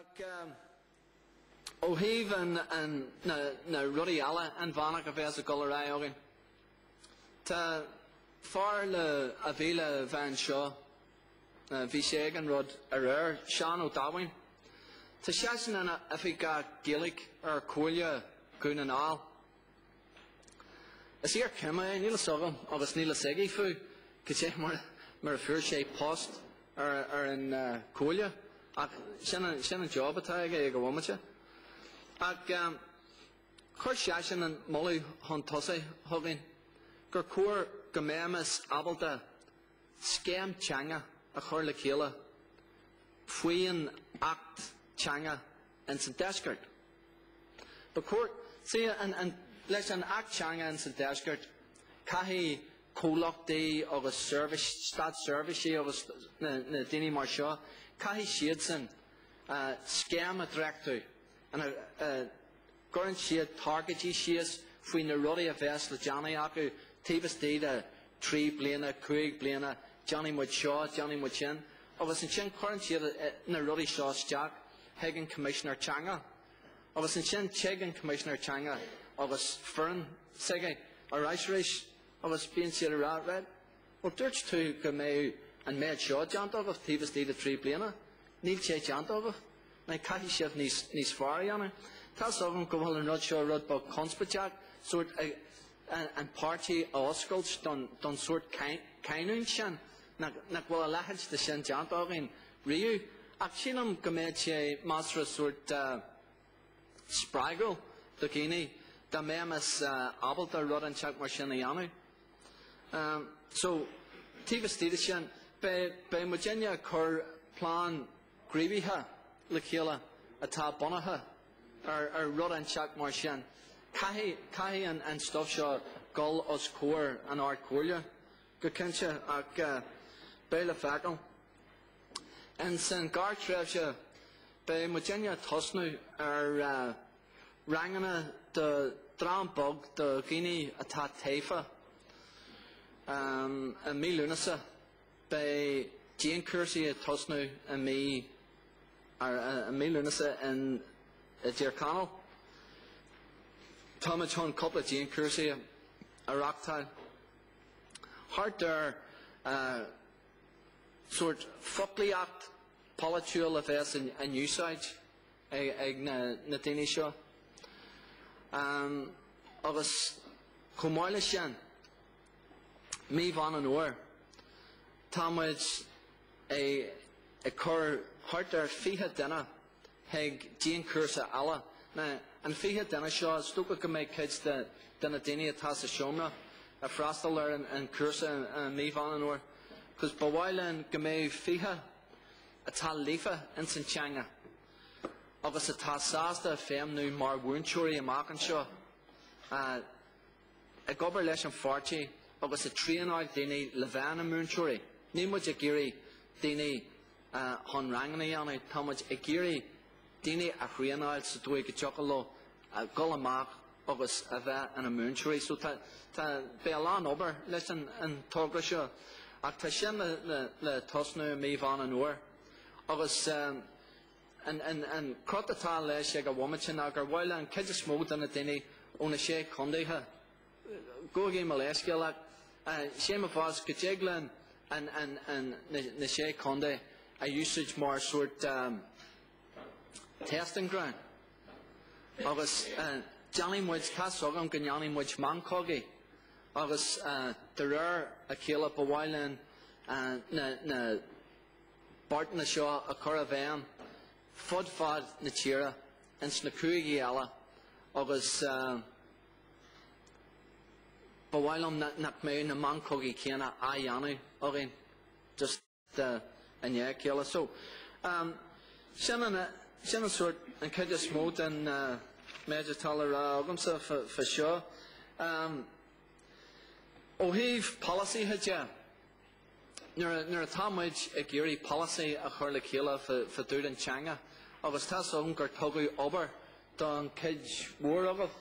Ach ó thaobh na rudaí eile inmheánacha a bheas ag dul ar aghaidh againn, tá fear a bhí le bheith anseo, bhí sé ag an rud aréir, Seán Ó Daimhín. Tá seisean ina oifigeach Gaeilge ar Chomhairle Dhún na nGall. Is iarchime é, níl fhios agam agus níl fhios aige fú, goidé mar a fuair sé post ar an Chomhairle ach sin an job atá aige ag an bhomaite. Ach chuir seisean an moladh chun tosaigh chugainn gur chóir go mbeimis ábalta scéim teanga a chur le chéile faoin Acht Teanga ins an Deisceart. Ba chóir, leis an Acht Teanga in sa Deisceart, caithfidh comhlachtaí agus státseirbhísí agus na daoine mar seo, caithfidh siadsan scéim a dhréachtú ina gcuireann siad targaidí síos faoi na rudaí a bheas le déanamh acu taobh istigh de thrí bliana, cúig bliana, déanfaidh muid seo, déanfaidh muid sin, agus ansin cuireann siad na rudaí seo isteach. chuig an Choimisinéir Teanga agus ansin chuig an Coimisinéir Teanga agus foireann s'aige ar ais arís agus bíonn siad ag rá right. Bhuel dúirt tú go mbeadh an méid seo déanta agat taobh istigh de thrí bliana. Níl sé déanta agat. Nó caithfidh sibh níos, níos fearr a dhéanamh. Tá a fhios agam go bhfuil an rud seo rud beag conspóideach sórt an páirtí a oscailt don, don sórt cinniúint sin nach bhfuil a leithéid de sin déanta againn riamh, ach sílim go mbeadh sé measartha sórt spreagúil do dhaoine dá mbeimis ábalta rud inteacht mar sin a dhéanamh. So, taobh istigh de sin, beidh muidinne ag cur plean gníomhaithe le chéile atá bunaithe ar rud inteacht mar sin. Caithfidh an stuif seo dul os comhair an Ard Chomhairle go cinnte ach beidh le feiceáil. Ins an ghearrthréimhse, beidh muidinne ag tosnú ar ranganna do dhream beag de dhaoine atá tofa. I mí Lúnasa, beidh dianchúrsaí ag tosnú i mí Lúnasa i dTír Chonaill. Táimid chun cúpla dianchúrsaí a reáchtáil thart ar sórt foclaíocht pholaitiúil a bheas in úsáid ag na daoine seo agus chomh maith leis sin, mí Mheán an Fhómhair, tá muid ag cur thart ar 20 duine chuig dianchúrsa eile. Ná an 20 duine seo, is dócha go mbeidh cuid de de na daoine atá sa seomra ag freastal ar an an chúrsa i mí Mheán an Fhómhair, cos ba mhaith linn go mbeadh 20 atá líofa ins an teanga agus atá sásta feidhmniú mar mhúinteoirí amach anseo. ag obair leis an pháirtí agus ag traenáil daoine le bheith ina múinteoirí. Níl muid ag iarraidh daoine chun ranganna a dhéanamh, tá muid ag iarraidh daoine a thraenáil sa dóigh go dtiocfadh leo dul amach agus a bheith ina múinteoirí. So tá beidh a lán obair leis an togra seo ach tá sin le tosnú mí Mheán an Fhómhair agus An cruth atá leis ag an bhomaite ná gur mhaith linn an chuid is mó de na daoine ó na sé chontaetha gabhaigí mo leithscéal ach sé an fáth go dtig linn na sé contae a úsáid mar sórt testing ground agus déanfaidh muid, tá's agam go ndéanfaidh muid meancógaí agus de réir a chéile ba mhaith linn na beartanna seo a chur i bhfeidhm fud fad na tíre ins na cúigí eile agus ba mhaith liom nach mbeadh na meancógaí céanna á dhéanamh againn just i ndiaidh a chéile. So sin an sort an chuid is mó den méid atá le rá agamsa faoi seo. Ó thaobh polasaithe de, Nuair atá muid ag iarraidh polasaí a chur le chéile fá dtaobh den teanga, agus tá's agam gur tugadh obair don chuid mhór agaibh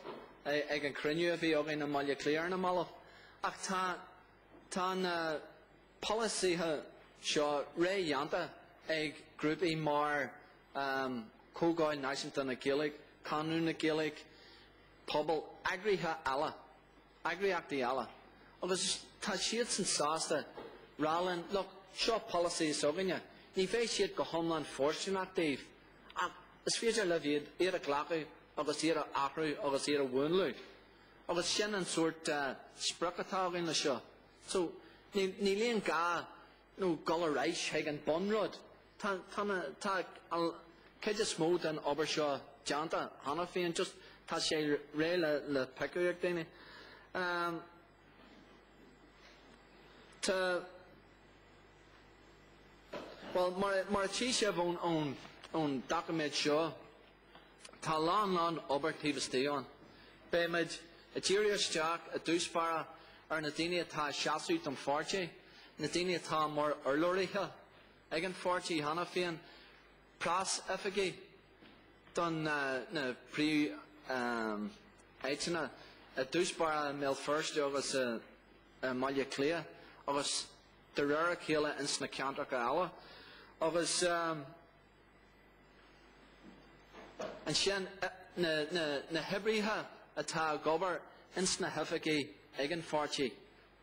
ag an chruinniú a bhí againn i mBaile Átha Cliath ar na mallaibh, ach tá tá na polasaithe seo réidh déanta ag grúpaí mar Chomhdháil Náisiúnta na Gaeilge, Conradh na Gaeilge, Pobal, eagraithe eile. eagraíochtaí eile agus tá siadsan sásta rá linn, look, seo polasaí s'againne, ní bheidh siad go hiomlán fóirsteanach daoibh ach is féidir libh iad, iad a ghlacadh agus iad a athrú agus iad a mhúnlú. Agus sin an sórt uh, sprioc atá againn le seo. So, níl aon gá nó dhul ar ais chuig an bhunrud. Tá, tá na, tá an chuid is mó den obair seo déanta cheana féin, just tá sé réidh le, le piocadh ag daoine. Um, tá, bhuel, mar, mar a tchí sibh ón, ón, ón doiciméad seo, Tá a lán lán obair taobh istigh ann. Beimid ag díriú isteach i dtús báire ar na daoine atá ag seasamh don pháirtí, na daoine atá mar urlabhraithe ag an pháirtí cheana féin, preas-oifigigh do na, na príomh-áiteanna i dtús báire i mBéal Feirste agus i mBaile Átha Cliath agus de réir a chéile ins na ceantracha eile. Ansin, na hoibrithe atá ag obair ins na hoifigí ag an pháirtí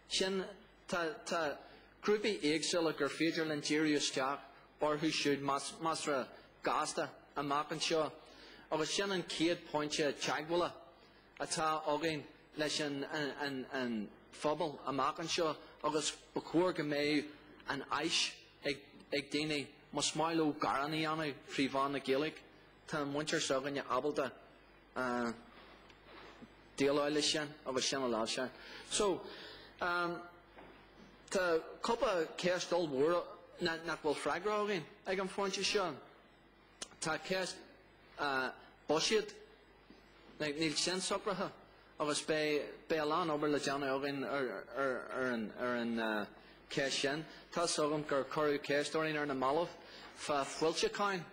sin, tá grúpaí éagsúla gur féidir linn díriú isteach orthu siúd measartha gasta amach anseo agus sin an chéad phointe teagmhála atá againn leis an phobal amach anseo agus ba chóir go mbeadh an áis ag daoine Más maith leo gearán a dhéanamh trí mheán na Gaeilge, tá an mhuintir s'againne ábalta déileáil leis sin agus sin a láimhseáil. So, um, tá cúpla céist ollmhór nach bhfuil freagra againn ag an phointe seo. Tá céist buiséid. Níl sin socraithe agus beidh a lán obair le déanamh againn ar an cheist sin. Tá's agam gur cuireadh ceist orainn ar na mallaibh fá foilseacháin.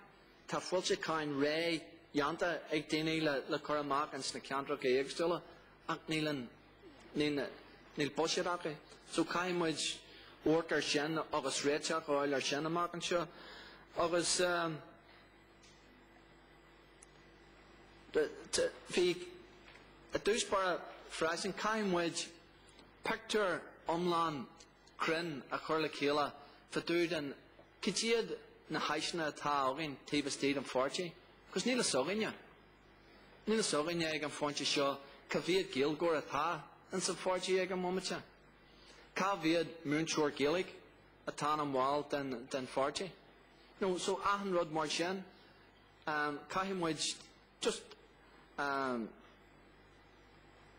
Tá foilseacháin réamhdhéanta ag daoine le cur amach ins na ceantracha éagsúla ach níl buiséad acu. So caithfidh muid amharc ar sin agus réiteach a fháil ar sin amach anseo. I dtús báire freisin. Caithfidh muid pictiúr iomlán cruinn a chur le chéile fá dtaobh de cad iad na háiseanna atá againn taobh istigh den pháirtí agus níl fhios againne. Níl fhios againne ag an phointe seo cá mhéad Gaeilgeoir atá ins an pháirtí ag an bhomaite. Cá mhéad múinteoir Gaeilge. atá ina bhall den pháirtí. No so achan rud mar sin, caithfidh muid just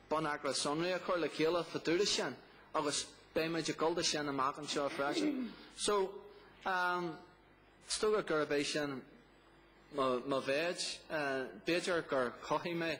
bonneagra sonraí a chur le chéile fá dtaobh de sin agus beidh muid ag dul dó sin amach anseo freisin. So is dócha gurb é sin mo mhéid. B'fhéidir gur chothaigh mé